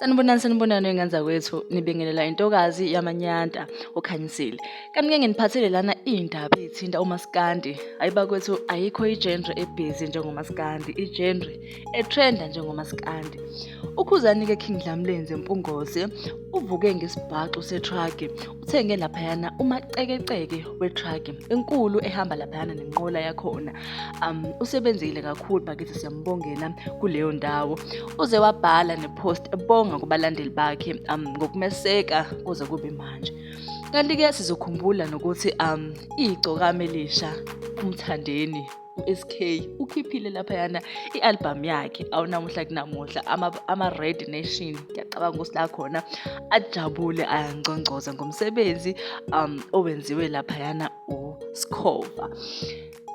sanibonani sanibonani engenza kwethu nibingelela intokazi yamanyanta okhanyisile kanti ke nginiphathele lana iy'ndaba ey'thinta umaskandi hayi bakwethu ayikho ijenre ebhizi njengomaskandi ijenre etrenda njengomaskandi ukhuzani-ke king dlamlenze mpungose uvuke ngesibhaxu setruck uthenge laphayana umacekeceke wetruck enkulu ehamba laphayana nenqola yakhona um usebenzile kakhulu bakithi siyambongela kuleyo ndawo uze wabhala nepost ebonga kubalandeli bakhe um ngokumeseka kuze kube manje kanti-ke sizokhumbula nokuthi um igcokama elisha umthandeni uSK ukhiphile laphayana i-albhamu yakhe awunamuhla kunamuhla ama-red ama nation ngiyacabanga ukuthi la khona ajabule ayangcongcoza ngomsebenzi um owenziwe laphayana uSkhova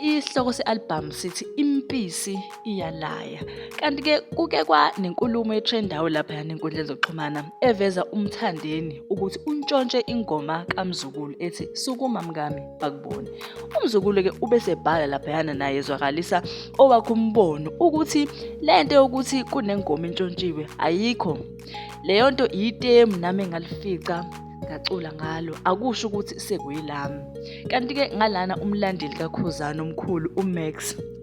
isihloko se-albhamu sithi impisi iyalaya kanti-ke kuke kwanenkulumo etrendayo laphayana enkundleni zokuxhumana eveza umthandeni ukuthi untshontshe ingoma kamzukulu ethi sukuma mkami bakubone umzukulu-ke ubesebhala laphayana naye ezwakalisa owakhe umbono ukuthi le nto yokuthi kunengoma entshontshiwe ayikho leyo nto yitemu nami engalifica ngacula ngalo akusho ukuthi sekuyilami kanti-ke ngalana umlandeli kakhuzana omkhulu umax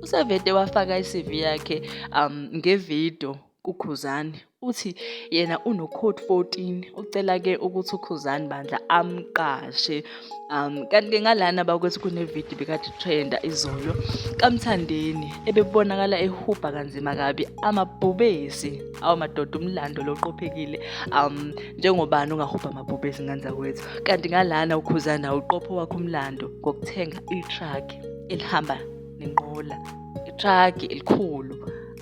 usevede wafaka i-cv yakhe um ngevidiyo kuKhuzani uthi yena unokhoti 14 ucela ke ukuthi uKhuzani bandla amqashe um kanti ke ngalana bakwethi kunevidiyo bekade trenda izolo kamthandeni ebebonakala ehubha kanzima kabi amabhubesi awamadoda umlando loqophekile um njengobani ungahubha amabhubesi nganza kwethu kanti ngalana ukhuzana uqopho wakho umlando ngokuthenga itruck elihamba nenqola itruck elikhulu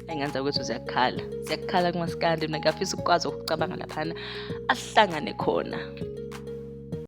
engenza ukuthi ziyakhala ziyakhala kumasikandi mina ngiyafisa ukukwazi ukucabanga laphana ahlangane khona